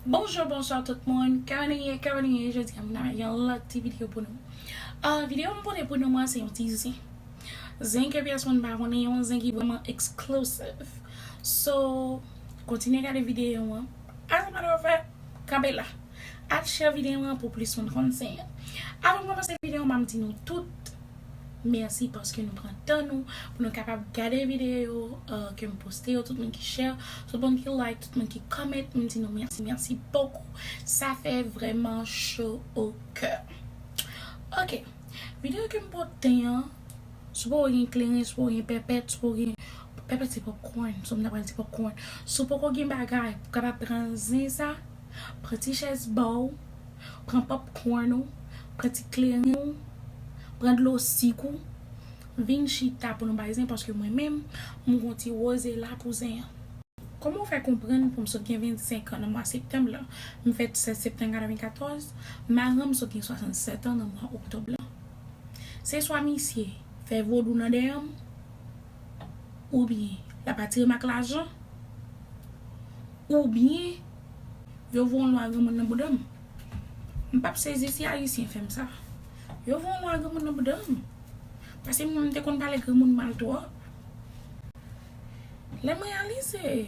Bonjour bonsoir tout moun, kman nou ye, kman nou ye, jodi a mwen avèk yon lòt ti video pou nou ahh video mwen pote pou nou an se yon ti zen zen ke pyès moun pa konnen, yon zen ki vrèman exclusive so kontinye gade video an. As a matter of fact, kanpe la. Al share videon an pou plis moun konn sen an. Avan m komanse videon an map di nou tout mèsi paske nou pran tan nou pou nou kapab gade videyo yo ke m poste yo, tout moun ki share, tout moun ki like, tout moun ki comment, m di nou mèsi mèsi bokou. Sa fè vrèman cho o kè. Ok, videyo ke m pote an. Si w poko gen kleren, si w poko gen pèpèt, si w poko gen, pèpèt se popcorn, sa m ta pral di popcorn, si w poko gen bagay pou w kapab pran zen sa, pran ti chèz ba w, pran popcorn ou, pran ti kleren ou, pran dlo sik ou, vin chita pou nou bay zen paske mwen menm m gon ti woze la pou zen an. Kòman w fè konprann pou m sot gen 25 an nan mwa septanm lan, m fèt 16 septanm 94, maran m sot gen 67 an nan mwa oktòb lan. Se swa misye fè vodou nan dèyè m, oubyen l ap atire m ak lajan, oubyen yo voye yon lwa granmoun nan bouda m. M pap sezi si Ayisyen fè m sa. Yo voye yon lwa granmoun nan bouda m. Paske mwen m te konn pale granmoun mal twòp. Lè m reyalize.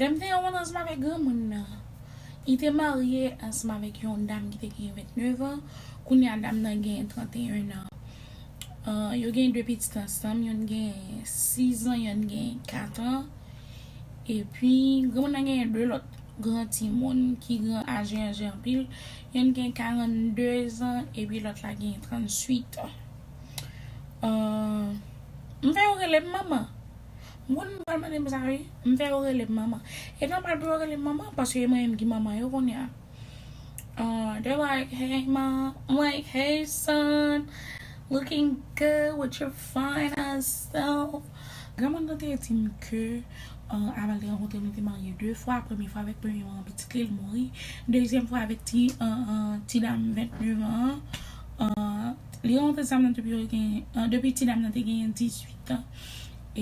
Lè m te yon moun ansanm avèk granmoun nan, li te marye ansanm avèk yon dam ki te gen 29 an, kounye a dam nan gen 31 an. Yo gen 2 pitit ansanm, youn gen 6 an, youn gen 4 an. Epi, granmoun nan gen 2 lòt gran timoun ki gran aje aje anpil yonn gen 42 zan epi lòt la gen 38 an m fè yo rele m manman m konn m pral mande m sa wi m fè yo rele m manman e nòmal pou yo rele m manman paske e mwen menm ki manman yo kounye a they like hey mom m like hey son looking good with your fine ass self Granmoun nan te di m ke avan l te rankontre m li te marye 2 fwa, premye fwa avèk premye manman pitit li, li mouri, dezyèm fwa avèk ti ti dam 29 an an, li rankontre zanmi nan depi yo te gen depi ti dam nan te genyen 18 an,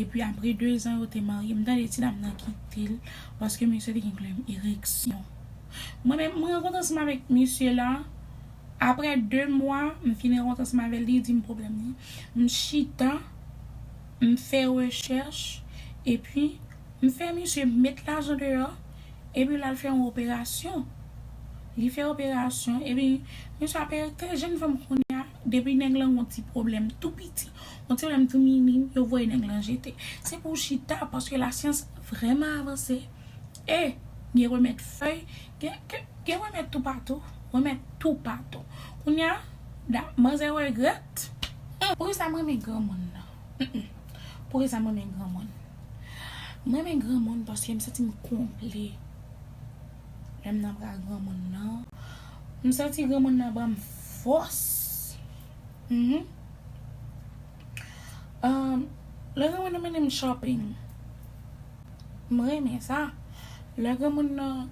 epi apre 2 zan yo te marye m tande ti dam nan kite l paske misye te gen pwoblèm ereksyon. Mwen menm m rankontre ansanm avèk misye la. Aprè 2 mwa m fin ront ansanm avè l li di m pwoblèm li. M chita m fè rechèch epi m fè misye met lajan deyò epi l al fè yon operasyon. Li fè operasyon epi misye ap erete jenn fanm kounye a depi nèg lan gen yon ti pwoblèm tou piti, yon ti pwoblèm tou minim yo voye nèg lan jete. Se pou w chita paske lasyans vrèman avanse. E, gen remèd fèy, gen, gen, gen remèd toupatou, remèd toupatou. Kounye a, da, manzè regrèt, hum! Poukisa m renmen granmoun nan? Hum! Poukisa m renmen granmoun? M renmen granmoun paske m santi m konple lè m nan bra granmoun nan. M santi granmoun nan ban m fòs. Hum! Lè granmoun nan mennen m shopping, m renmen sa. Lè granmoun nan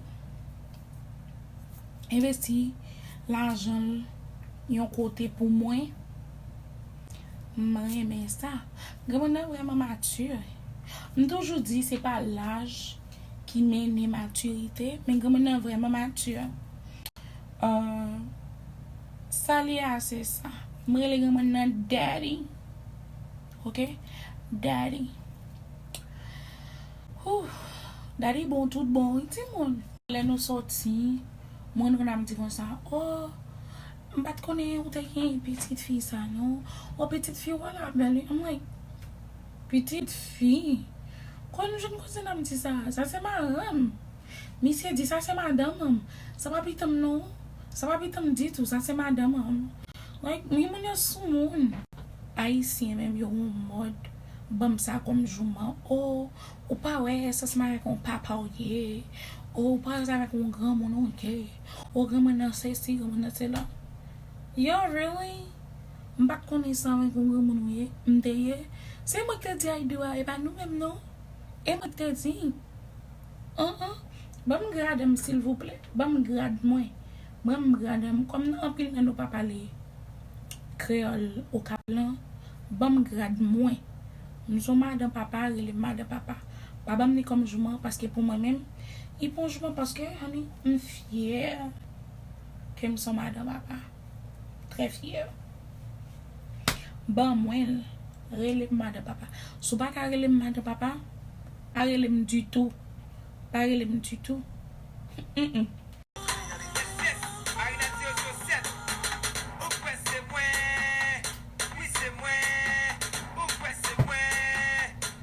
envesti lajan l yon kote pou mwen, m renmen sa. Granmoun nan vrèman mature. M toujou di se pa laj ki mennen matirite, men granmoun nan vrèman mature. Sa li ye a se sa. M rele granmoun nan Daddy ok Daddy Ooh Daddy bon tout bon wi timoun. Lè nou soti m renmen ap di konsa oh m pat konnen ou te gen pitit fi sa non oh pitit fi ou a la bèl wi I'm like pitit fi? Kòm m jwenn kouzen nan m di sa, sa se maranm. Misye di, sa se madanm anm. Sa pa pitanm non. Sa pa pitanm ditou. Sa se madanm anm. Like, wi moun yo sou moun. Ayisyen menm yo on mòd banm sa kòm jouman. Oh, ou pa wè sa se marye ak on papa ou ye. Oh, ou pa wè sa se avèk on granmoun ou ye. Oh, granmoun nan sesi, granmoun nan sela. Yo, really? M pat konnen sa avèk on granmoun ou ye. M te ye. Se mwen ki te di Ayido a, e pa nou menm non. E mwen ki te di. An an Banm gradm silvouplè Banm grad mwen Banm gradm Kòm nan anpil nan nou pa pale kreyòl okap lan Banm grad mwen M son madan papa relem madan papa Pa banm li kòm jouman paske pou mwen menm Li pon jouman paske honey m fyè Kem son madan papa. Trè fyè. Ban mwen l. Rele m madan papa. Si w pa ka rele m madan papa, pa rele m ditou. Pa rele m ditou. Humm.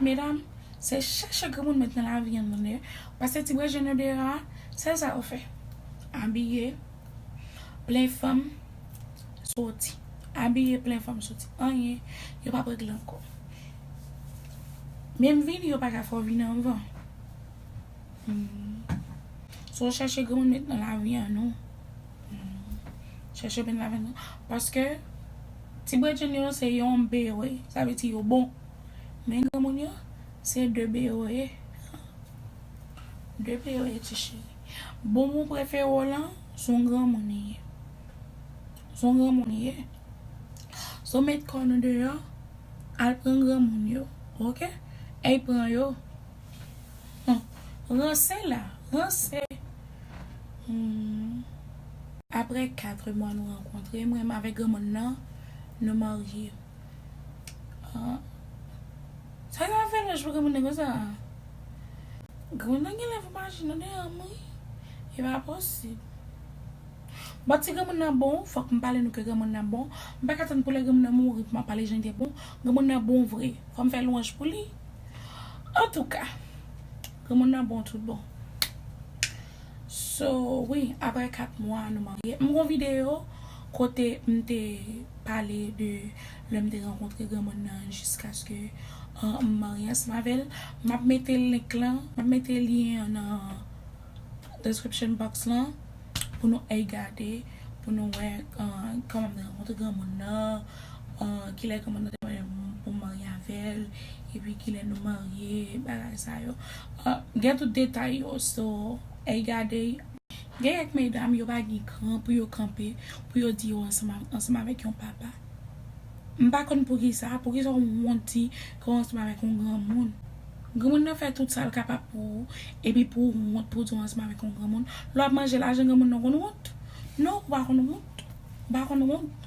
Medam se chèche granmoun met nan lavi an tande pase ti brejèn yo deyò a sèl sa yo fè abiye plen fanm soti abiye plen fanm soti anyen yo pap regle ankò menm vini yo paka fè w vini anvan sa w chèche granmoun met nan lavi an nou chèche met nan lavi an nou paske ti brejèn yo se yon bgy sa vle di yo bon. Men granmoun yo se 2 be yo ye han 2 be yo ye ti cheri boom ou prefere w lan son granmoun li ye son granmoun li ye so met kò nou deyò al pran granmoun yo ok ey pran yo han ranse la ranse humm aprè 4 mwa nou rankontre mwen menm avèk granmoun nan nou marye. Sa yo ap fè lòj pou granmoun nan konsa? Granmoun nan genlè fè maji nan deyò m wi. E pa posib. Bon ti granmoun nan bon, fòk m pale nou ke granmoun nan bon. M pa ka tann pou lè granmoun nan mouri pou m ap pale jan l te bon. Granmoun nan bon vre. Fò m fè lwanj pou li. Antouka, granmoun nan bon tout bon. So wi aprè 4 mwa nou marye. M gon video kote m te pale de lèm te rankontre granmoun nan jiskaske m marye ansanm avèl. Map mete link lan, map mete lyen an nan description box lan pou nou al gade pou nou wè kòman m te rankontre granmoun nan, kilè granmoun nan te mande m pou m marye avèl epi kilè nou marye bagay sa yo. Ahh gen tout detay yo so ey gadey. Gen kèk medam yo pa gen kran pou yo kanpe pou yo di yo ansanm avèk yon papa. M pa konn poukisa, poukisa w wont di ke w ansanm avèk yon granmoun. Granmoun nan fè tout sa l kapab pou ou epi pou w wont pou w di w ansanm avèk yon granmoun. Lè w ap manje lajan granmoun nan w konn wont? Non ou pa konn wont, ou pa konn wont.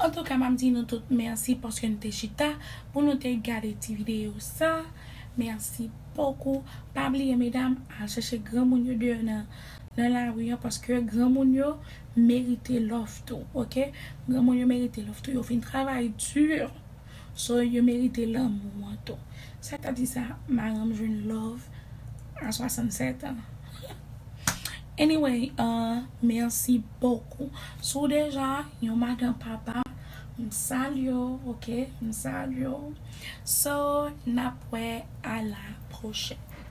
Antouka map di nou tout mèsi paske nou te chita pou nou te gade ti video sa mèsi bokou pa bliye medam al chèche granmoun yo deyò nan nan lari an paske granmoun yo merite love tou ok granmoun yo merite love tou yo fin travay dur. So yo merite lanmou an tou. Sak ta di sa maranm jwenn love a 67 ans anyway merci beaucoup si w deja yon madan papa m salye w ok m salye w so nap wè a la prochèn.